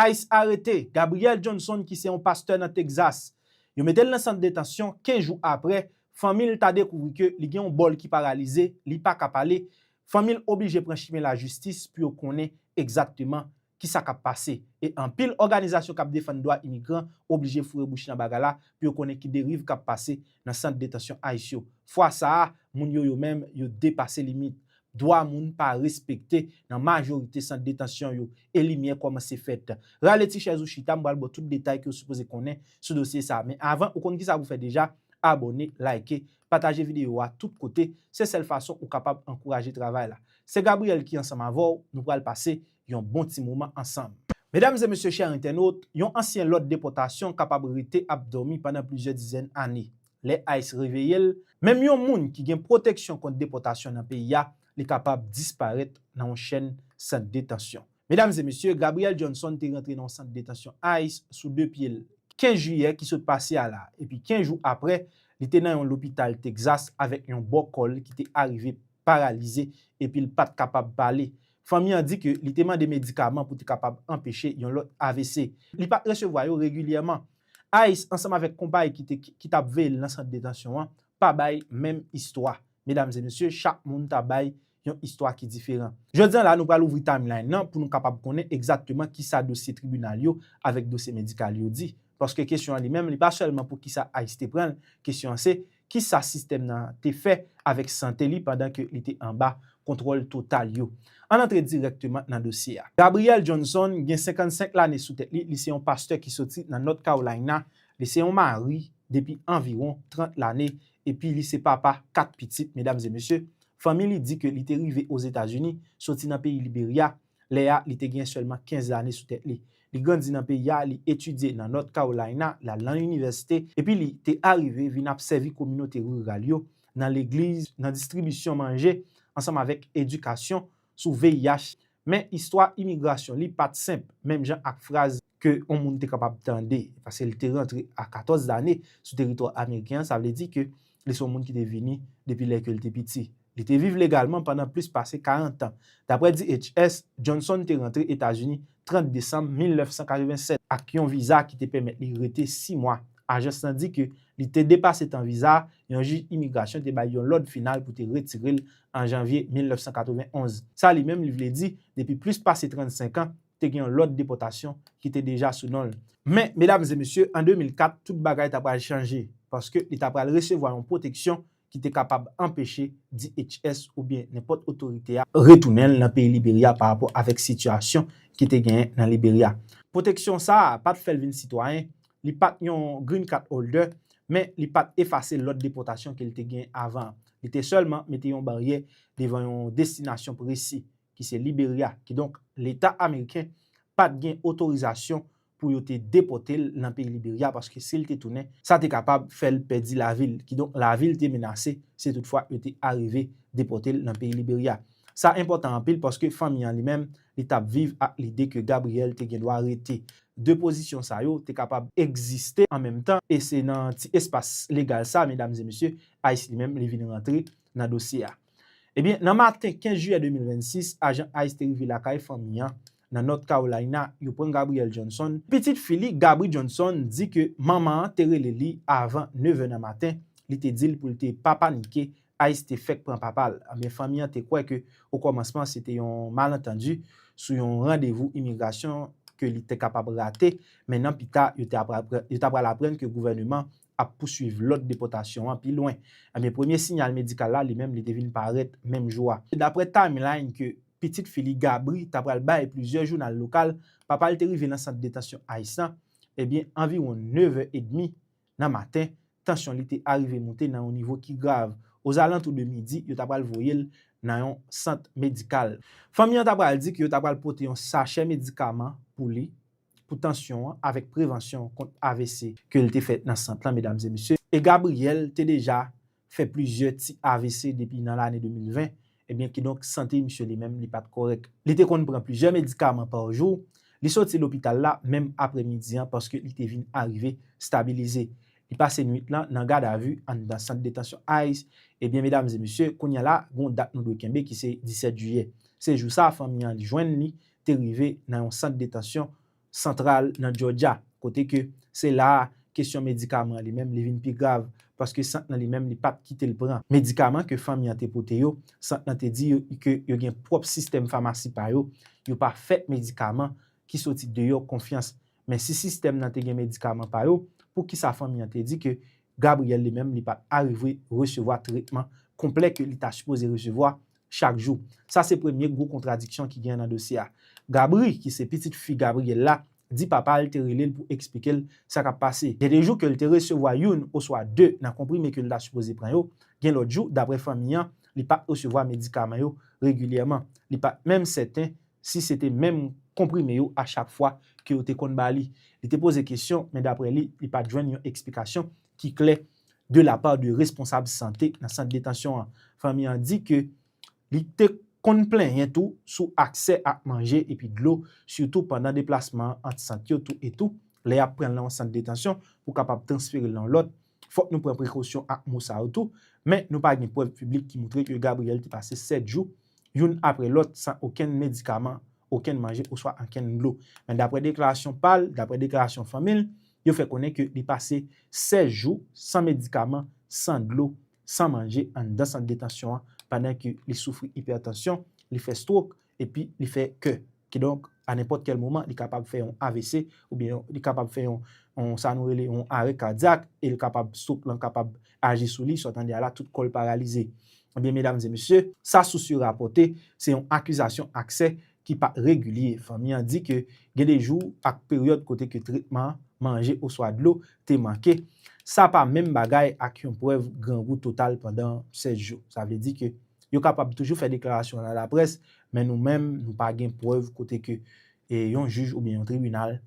ice arete Gabriel Johnson ki se yon pastè nan Texas. Yo mete l nan sant detansyon, 15 jou aprè, fanmi l ta dekouvri ke li gen yon bò l ki paralize, li pa ka pale, fanmi l oblije pran chimen lajistis pou yo konnen egzakteman ki sa k ap pase. E anpil òganizasyon k ap defann dwa imigran oblije foure bouch nan bagay la pou yo konnen ki deriv k ap pase nan sant detansyon ice yo. Fwa sa a, moun yo yo menm yo depase limit. Dwa moun pa respekte nan majorite sant detansyon yo e limyè kòmanse fèt. Rale ti chèz ou chita, m pral ba w tout detay ke w sipoze konnen sou dosye sa. Men avan, ou konn kisa pou fè deja, abòne, like, pataje videyo a tout kote, se sèl fason ou kapab ankouraje travay la. Se Gabriel ki ansanm avè w, nou pral pase yon bon ti moman ansanm. Medam e mesye chè entènot, yon ansyen lòd depòtasyon kapab rete ap dòmi pandan plizyè dizèn ane. Lè ice reveye l, menm yon moun ki gen pwoteksyon kont depòtasyon nan peyi a, li kapab disparèt nan yon chenn sant detansyon. Medam e mesye, Gabriel Johnson te rantre nan yon sant detansyon ice sou 2 pye l 15 jiyè ki sot pase a la epi 15 jou aprè, li te nan yon lopital Texas avèk yon bò kò l ki te arive paralize epi l pa t kapab pale. Fanmi an di ke li te mande medikaman pou te kapab anpeche yon lòt avc. Li pa t resevwa yo regilyèman. Ice ansanm avèk konpay ki t ap veye l nan sant detansyon an pa bay menm istwa. Medam e mesye, chak moun ta bay yon istwa ki diferan. Jodi an la, nou pral ouvri timeline nan pou nou kapab konnen egzakteman kisa dosye tribinal yo avèk dosye medikal yo di. Paske kesyon an li menm, li pa sèlman pou kisa Ice te pran l, kesyon an se, Ki sa sistèm nan te fè avèk sante li pandan ke li te anba kontwòl total yo? Ann antre dirèkteman nan dosye a. Gabriel Johnson gen 55 lane sou tèt li, li se yon pastè ki soti nan North Carolina, li se yon mari depi anviwon 30 lane epi li se papa 4 pitit. Medam e mesye, fanmi li di ke li te rive Ozetazini soti nan peyi Liberya Lè a, li te gen sèlman 15 lane sou tèt li. Li grandi nan peyi a, li etidye nan North Carolina, l al nan inivèsite, epi li te arive vin ap sèvi kominote riral yo, nan legliz, nan distribisyon manje, ansanm avèk edikasyon sou VIH. Men, istwa imigrasyon li pa t senp, menm jan ak fraz ke yon moun te kapab tande, paske li te rantre a 14 lane sou teritwa ameriken an, sa vle di ke li se yon moun ki te vini depi lè ke li te piti. Li te viv legalman pandan plis pase 40 tan. Dapre DHS, Johnson te rantre Etazini 30 desanm 1987 ak yon viza ki te pèmèt li rete 6 mwa. Ajans lan di ke li te depase tan viza a, yon jij imigrasyon te bay yon lòd final pou te retire l an janvye 1991. Sa li menm li vle di, depi plis pase 35 an, te gen yon lòd depòtasyon ki te deja sou non l. Men, medam e mesye, an 2004, tout bagay ta pral chanje, paske li ta pral resevwa yon pwoteksyon ki te kapab anpeche DHS oubyen nenpòt otorite a, retounen l nan peyi Liberya pa rapò avèk sitiyasyon ki te genyen nan Liberya. Pwoteksyon sa a pa t fè l vin sitwayen, li pa t yon Green Card Holder, men li pa t efase lòd depòtasyon ke l te gen avan an. Li te sèlman mete yon baryè devan yon destinasyon presi, ki se Liberya, kidonk leta ameriken pa t gen otorizasyon pou yo te depòte l nan peyi Liberya paske si l te tounen, sa te kapab fè l pèdi lavi l, kidonk lavi l te menase si toutfwa yo te arive depòte l nan peyi Liberya. Sa enpòtan anpil paske fanmi an li menm, li t ap viv ak lide ke Gabriel te gen dwa rete. De pozisyon sa yo te kapab egziste an menm tan e se nan ti espas legal sa, medam e mesye, ice li menm li vin rantre nan dosye a. Ebyen, nan maten 15 jiyè 2026, ajan ice te rive lakay fanmi an nan North Carolina, yo pran Gabrielle Johnson. Pitit fi li, Gabri Johnson, di ke manman an te rele li avan nevè nan maten, li te di l pou l te pa panike, ice te fèk pran papa l. Ebyen, fanmi an te kwè ke okòmansman se te yon malantandi sou yon randevou imigrasyon ke li te kapab rate, men nan pita, yo ta pral aprann ke gouvèneman ap pouswiv lòd depòtasyon an pi lwen. Ebyen premye sinyal medikal la li menm li te vin parèt menm jou a. Daprè timeline ke pitit fi li Gabri ta pral bay plizyè jounal lokal, papa l te rive nan sant detansyon ice lan ebyen anviwon 9 è edmi nan maten, tansyon li te arive moute nan yon nivo ki grav. Ozalantou de midi yo ta pral voye l nan yon sant medikal. Fanmi an ta pral di ke yo ta pral pote yon sachè medikaman pou li, pou tansyon an avèk prevansyon kont avc ke l te fè nan sant lan medam e mesye, e Gabriel te deja fè plizyè ti avc depi nan lane 2020, ebyen kidonk sante misye li menm li pat kòrèk. Li te konn pran plizyè medikaman pa jou, li soti lopital la menm aprè midi an paske li te vin arive stabilize. Li pase nwit lan nan gadavu anndan sant detansyon ice, ebyen medam e mesye, kounya la gon dat nou dwe kenbe ki se 17 jiyè. Se jou sa fanmi an jwenn li te rive nan yon sant detansyon santral nan Jòjya, kote ke se la a kesyon medikaman li menm li vin pi grav, paske sant lan li menm li pat kite l pran medikaman ke fanmi an te pote yo, sant lan te di yo ke yo gen pwòp sistèm famasi pa yo, yo pa fè medikaman ki soti deyò konfyans, men si sistèm lan te gen medikaman pa yo, poukisa fanmi an te di ke Gabriel li menm li pat arive resevwa tretman konplè ke li ta sipoze resevwa chak jou. Sa se premye gwo kontradiksyon ki gen nan dosye a. Gabri, ki se pitit fi Gabriel la, di papa l te rele l pou eksplike l sa k ap pase. Gen de jou ke l te resevwa youn oswa de nan konprime ke l ta sipoze pran yo, gen lòt jou, daprè fanmi an, li pa t resevwa medikaman yo regilyèman. Li pa t menm sèten si se te menm konprime yo a chak fwa ke yo te konn ba li. Li te poze kesyon, men daprè li, li pa t jwenn yon eksplikasyon ki klè de la part de responsab sante nan sant detansyon an. Fanmi an di ke li te konn plenyen tou sou aksè ak manje epi dlo sitou pandan deplasman ant sant yo tou etou lè yap pranl nan yon sant detansyon pou kapab transferel nan yon lòt. Fòk nou pran prekosyon ak mo sa yo tou, men nou pa gen prèv piblik ki moutre ke Gabriel te pase 7 jou youn apre lòt san okenn medikaman, okenn manje oswa ankenn dlo. Men daprè deklarasyon pal, daprè deklarasyon fanmil, Yo fè konnen ke li pase 16 jou san medikaman, san dlo, san manje anndan sant detansyon an pandan ke li soufri ipètansyon, li fè strok epi li fè kè. Kidonk, a nenpòt kèl moman li kapab fè yon avc oubyen li kapab fè yon sa nou rele yon arè kadyak e li kapab strok lan kapab aji sou li, sa w tande a la tout kò l paralize. Ebyen medam e mesye, sa sous yo rapòte se yon akizasyon aksè ki pa regilye. Fanmi an di ke gen de jou ak peryòd kote ke tretman, manje oswa dlo te manke. Sa pa menm bagay ak yon prèv grangou total pandan 7 jou. Sa vle di ke yo kapab toujou fè deklarasyon nan laprès, men nou menm nou pa gen prèv kote ke yon jij oubyen yon tribinal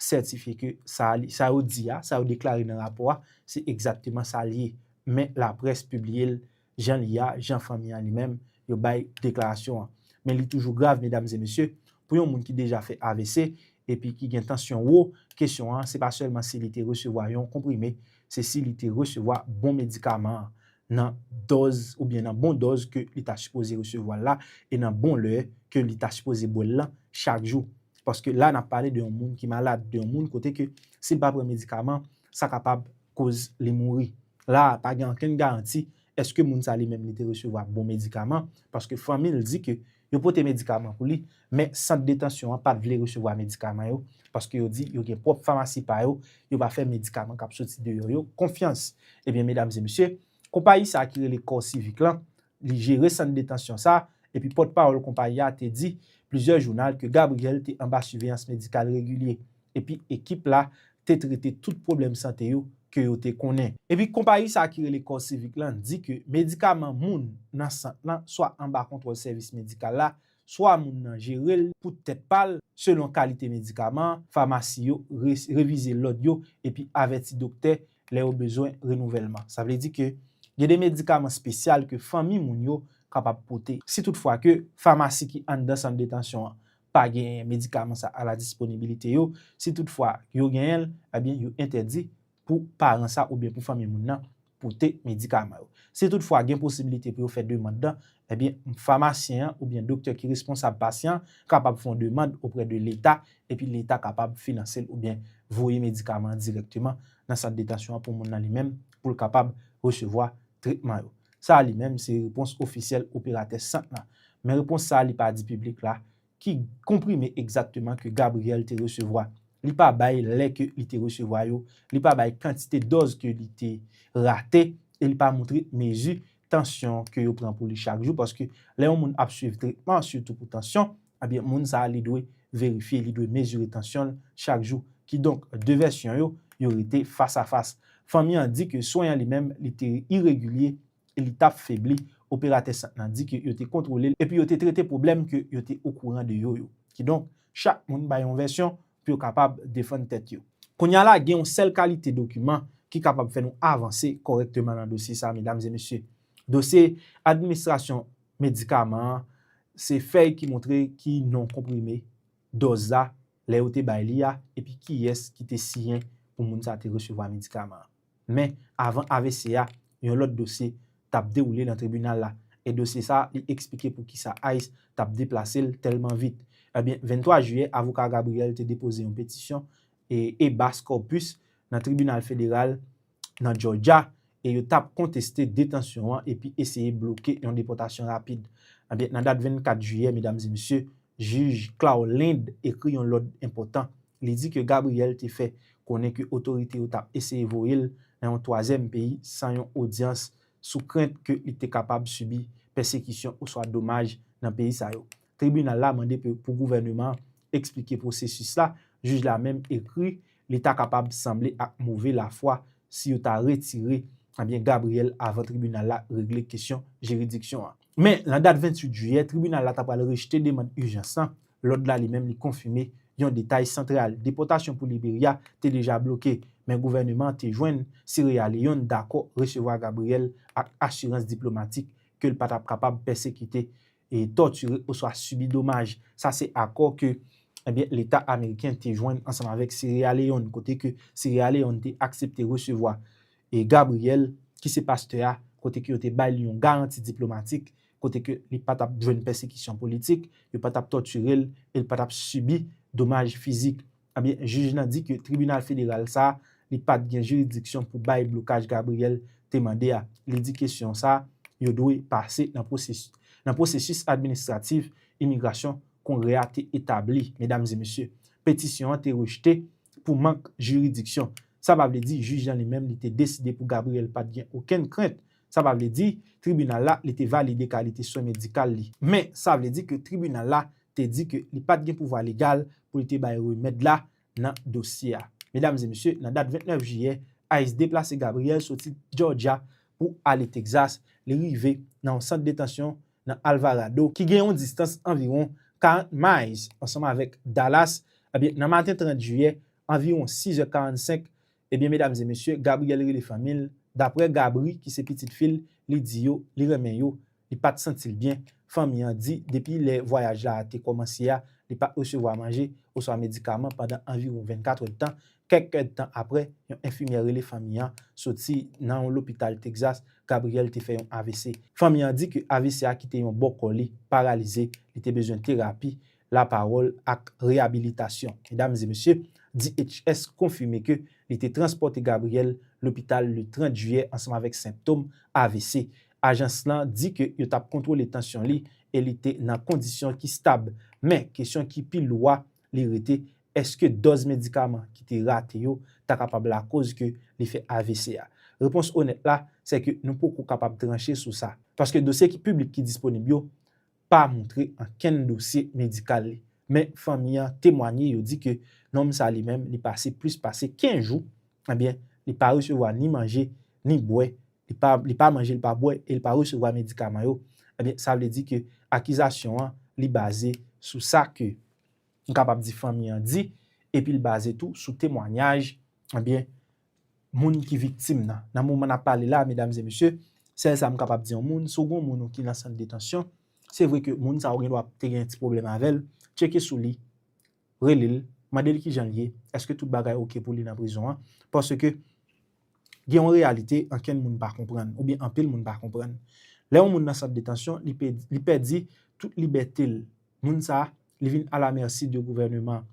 sètifye ke sa yo di a, sa yo deklare nan rapò a, se egzakteman sa l ye. Men laprès pibliye l jan l ye a, jan fanmi an li menm yo bay deklarasyon an. Men li toujou grav, medam e mesye, pou yon moun ki deja fè avc epi ki gen tansyon wo, kesyon an se pa sèlman si li te resevwa yon konprime, se si li te resevwa bon medikaman an, nan dòz oubyen nan bon dòz ke li ta sipoze resevwa l la e nan bon lè ke li ta sipoze bwè l lan chak jou. Paske la nap pale de yon moun ki malad, de yon moun kote ke si l pa pran medikaman, sa kapab koz li mouri. La a, pa gen ankenn garanti eske moun sa li menm li te resevwa bon medikaman, paske fanmi l di ke yo pote medikaman pou li, men sant detansyon an pat vle resevwa medikaman yo, paske yo di yo gen pwòp famasi pa yo, yo pa fè medikaman kap soti deyò yo konfyans. Ebyen medam e mesye, konpayi sa ki rele Corps Civic lan, li jere sant detansyon sa, epi pòt pawòl konpayi a te di plizyè jounal ke Gabriel te anba siveyans medikal regilye, epi ekip la te trete tout pwoblèm sante yo ke yo te konnen. Epi konpayi sa ki rele CorCivic la di ke medikaman moun nan sant lan swa anba kontwòl sèvis medikal la, swa moun nan jere l pou tèt pa l, selon kalite medikaman an, famasi yo revize lòd yo epi avèti doktè lè yo bezwen renouvèlman. Sa vle di ke gen de medikaman spesyal ke fanmi moun yo kapab pote. Si tout fwa ke famasi ki anndan sant detansyon an pa genyen medikaman sa a la disponibilite yo, si tout fwa yo genyen l, ebyen yo entèdi pou paran sa oubyen pou fanmi moun nan pote medikaman yo. Si tout fwa gen posibilite pou yo fè demand lan, ebyen famasyen an oubyen doktè ki responsab pasyan kapab fon demand oprè de leta epi leta kapab finanse l oubyen voye medikaman an dirèkteman nan sant detansyon an pou moun nan li menm pou l kapab resevwa tretman yo. Sa a li menm se repons ofisyèl operatè sant lan. Men repons sa a li pa di piblik la ki konprime egzakteman ke Gabriel te resevwa. Li pa bay lè ke li te resevwa yo, li pa bay kantite dòz ke li te rate e li pa moutre mezi tansyon ke yo pran pou li chak jou paske lè yon moun ap swiv tretman sitou pou tansyon, Ebyen moun sa a li dwe verifye, li dwe mezire tansyon l chak jou. Kidonk, 2 vèsyon yo, yo rete fas a fas. Fanmi an di ke swen an li menm li te iregilye e li t ap febli. Operatè sant lan di ke yo te kontwole l epi yo te trete pwoblèm ke yo te okouran de yo yo. Kidonk, chak moun bay yon vèsyon pou yo kapab defann tèt yo. Kounye a la, gen yon sèl kalite dokiman ki kapab fè nou avanse kòrèkteman nan dosye sa a, medam e mesye. Dosye administrasyon Medikaman an, se fèy ki montre ki non konprime, dòz la, lè yo te bay li a, epi kiyès ki te siyen pou moun sa te resevwa medikaman an. Men, avan avc a, yon lòt dosye t ap dewoule nan tribinal la, e dosye sa a, li eksplike pou ki sa ice t ap deplase l tèlman vit. Ebyen, 23 jiyè, avoka Gabriel te depoze yon petisyon, e habeas corpus, nan tribinal federal, nan Jòjya e yo tap konteste detansyon an epi eseye bloke yon depòtasyon rapid. Anben, nan dat 24 jiyè, medam e mesye, jij Claude Lind ekri yon lòd enpòtan. Li di ke Gabriel te fè konnen ke otorite yo tap eseye voye l nan yon twazyèm peyi san yon odyans sou krent ke li te kapab sibi pèsekisyon oswa domaj nan peyi sa yo. Tribinal la mande pou gouvèneman an eksplike pwosesis la, jij la menm ekri li ta kapab sanble ak move lafwa si yo ta retire Gabriel avan tribinal la regle kesyon jiridiksyon an. Men, nan dat 28 jiyè, tribinal la ta pral rejte demand ijans lan, lòd la li menm li konfime yon detay santral, depòtasyon pou Liberya te deja bloke, men gouvèneman an te jwenn Sierra Leone dakò resevwa Gabriel ak asirans diplomatik ke l pa t ap kapab pèsekite tòtire oswa sibi domaj. Sa se akò ke Leta ameriken te jwenn ansanm avèk Seryè Leyòn kote ke Seryè Leyòn te aksepte resevwa Gabriel ki se pastè a kote ke yo te bay li yon garanti diplomatik kote ke li pa tap jwenn pèsekisyon politik, yo pa tap tòtire l e li pa tap sibi domaj fizik. Ebyen jij lan di ke tribinal federal sa a li pat gen jiridiksyon pou bay blokaj Gabriel te mande a. Li di kesyon sa yo dwe pase nan pwosesis administratif imigrasyon Kongrè a te etabli. Medam e mesye, petisyon an te rejte pou mank jiridiksyon. Sa pa vle di jij lan li menm li te deside pou Gabriel pat gen okenn krent Sa pa vle di tribinal la li te valide kalite swen medikal li. Men, sa vle di ke tribinal la te di ke li pa t gen pouvwa legal pou li te bay remèd la nan dosye a. Medam e mesye, nan dat 29 jiyè, ice deplase Gabriel soti Georgia pou ale Texas, li rive nan yon sant detansyon nan Alvarado, ki gen yon distans anviwon 40 miles ansanm avèk Dallas, ebyen nan maten 30 jiyè, anviwon 6 è 45, Ebyen medam e mesye Gabriel rele fanmil daprè Gabri ki se pitit fil li di yo li renmen yo li pat santil byen fanmi an di depi lè vwayaj la te kòmanse a li pat resevwa manje oswa medikaman pandan anviwon 24 èdtan kèk èdtan aprè yon enfimyè rele fanmi an soti nan yon lopital Texas Gabriel te fè yon avc fanmi an di ke avc a kite yon bò kò li paralize li te bezwen terapi lapawòl ak reyabilitasyon. Medam e mesye, DHS konfime ke li te transpòte Gabriel lopital le 30 jiyè ansanm avèk senptom avc. Ajans lan di ke yo tap kontwole tansyon li e li te nan kondisyon ki stab. Men, kesyon ki pi lou a, li rete, eske dòz medikaman ki te rate yo ta kapab lakoz ke li fè avc a? Repons onèt la, sè ke nou poko kapab tranche sou sa. Paske dosye ki piblik ki disponib yo, pa montre ankenn dosye medikal li. Men fanmi an temwanye yo di ke nonm sa li menm li pase plis pase 15 jou ebyen li pa resevwa ni manje ni bwè li pa li pa manje li pa bwè e li pa resevwa medikaman yo ebyen sa vle di ke akizasyon an li baze sou sa ke nou kapab di fanmi an di epi li baze tou sou temwanyaj ebyen moun ki viktim nan. Nan moman n ap pale la a medam e mesye, sèl sa m kapab di yon moun, si w gen yon moun ou ki nan sant detansyon, se vre ke moun sa ou gendwa te gen yon ti pwoblèm avè l, tcheke sou li, rele l, mande l kijan l ye, èske tout bagay ok pou li nan prizon an, paske gen yon reyalite ankenn moun pa konprann oubyen anpil moun pa konprann. Lè yon moun nan sant detansyon, li pèdi tout libète l, moun sa li vin a la merci de gouvèneman.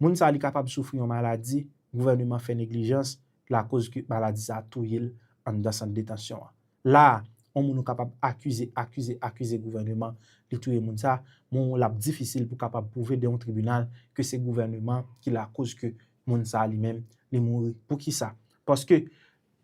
Moun sa li kapab soufri yon maladi, gouvèneman fè neglijans, lakoz ke maladi sa a touye l anndan sant detansyon an. La a, yon moun ou kapab akize, akize, akize gouvèneman li touye moun sa a, men w l ap difisil pou kapab pwouve de yon tribinal ke se gouvèneman ki lakoz ke moun sa a li menm li mouri. Pou ki sa? Paske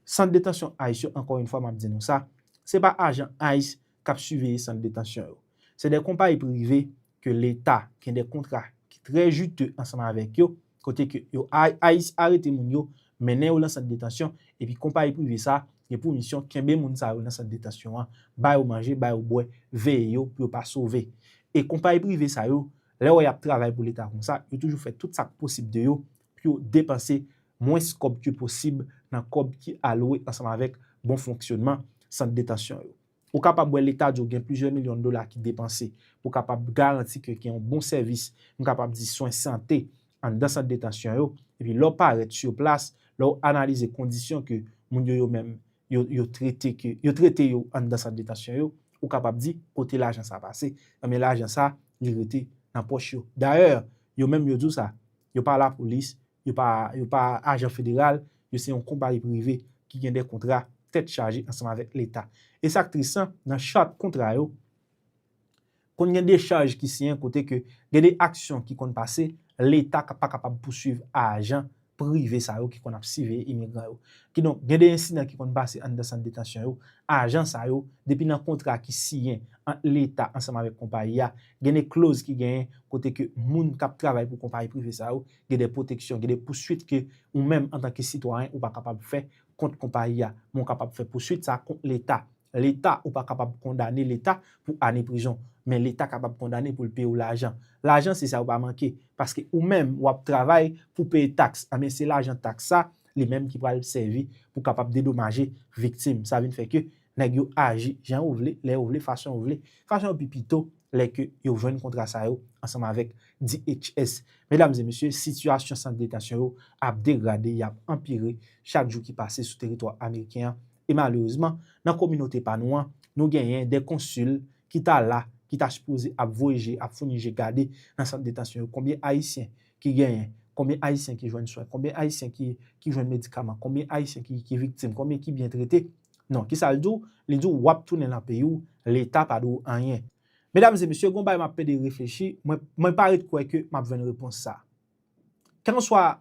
sant detansyon ice yo, ankò yon fwa m ap di nou sa, se pa ajan ice k ap siveye sant detansyon yo. Se de konpayi prive ke leta gen de kontra ki trè jite ansanm avèk yo, kote ke yo arete moun yo, mennen yo lan sant detansyon, epi konpayi prive sa gen pou misyon kenbe moun sa yo lan sant detansyon an, ba yo manje, ba yo bwè, veye yo pou yo pa sove. E konpayi prive sa yo, lè wè y ap travay pou leta konsa, yo toujou fè tout sa k posib de yo pou yo depanse mwens kòb ke posib nan kòb ki alwe ansanm avèk bon fonksyonman sant detansyon yo. Ou kapab wè leta di w gen plizyè milyon dola ki depanse pou kapab garanti ke gen yon bon sèvis, m kapab di swen sante anndan sant detansyon yo, epi lè w parèt sur plas, lè w analize kondisyon ke moun yo yo menm yo trete ke yo trete yo anndan sant detansyon yo, ou kapab di kote lajan sa pase, enben lajan sa li rete nan pòch yo. Dayè, yo menm yo di w sa, Yo pa lapolis, yo pa yo pa ajan federal, yo se yon konpayi prive ki gen de kontra tèt chaje ansanm avèk leta. E sa k tris lan, nan chart kontra yo, konn gen de chaj ki siyen kote ke gen de aksyon ki konn pase, leta ka pa kapab pousuiv ajan prive sa yo ki konn ap siveye imigran yo. Kidonk, gen de ensidan ki konn pase anndan sant detansyon yo, ajan sa yo, depi nan kontra ki siyen ant leta ansanm avèk konpayi a, Gen de kloz ki genyen kote ke moun k ap travay pou konpayi prive sa yo gen de pwoteksyon, gen de pouswit ke ou menm antan ke sitwayen ou pa kapab fè kont konpayi a. Men ou kapab fè pouswit sa kont Leta. Leta, ou pa kapab kondane Leta pou ane prizon. Men Leta kapab kondane pou l peye w lajan. Lajan se sa yo pa manke. Paske ou menm ou ap travay pou peye taks. Anben se lajan taks sa, li menm ki pral sèvi pou kapab dedomaje viktim. Sa vin fè ke Nèg yo aji jan yo vle, lè yo vle, fason yo vle. Fason yo pi pito lè ke yo jwenn kontra sa yo ansanm avèk DHS. Medam e mesye, sitiyasyon sant detansyon yo ap degrade, y ap anpire chak jou ki pase sou teritwa ameriken an. E malerezman, nan kominote pa nou an, nou genyen de konsil ki ta la, ki ta sipoze ap voye je, ap founi je gade nan sant detansyon yo konbyen Ayisyen ki genyen, konbyen Ayisyen ki jwenn swen, konbyen Ayisyen ki jwenn medikaman, konbyen Ayisyen ki viktim, konbyen ki byen trete. Non, kisa l di w? Li di w w ap tounen nan peyi w, Leta pa dwe w anyen. Medam e mesye, gen yon bagay m ap pede reflechi, mwen pa ret kwè ke m ap jwenn repons sa a. Kèlkanswa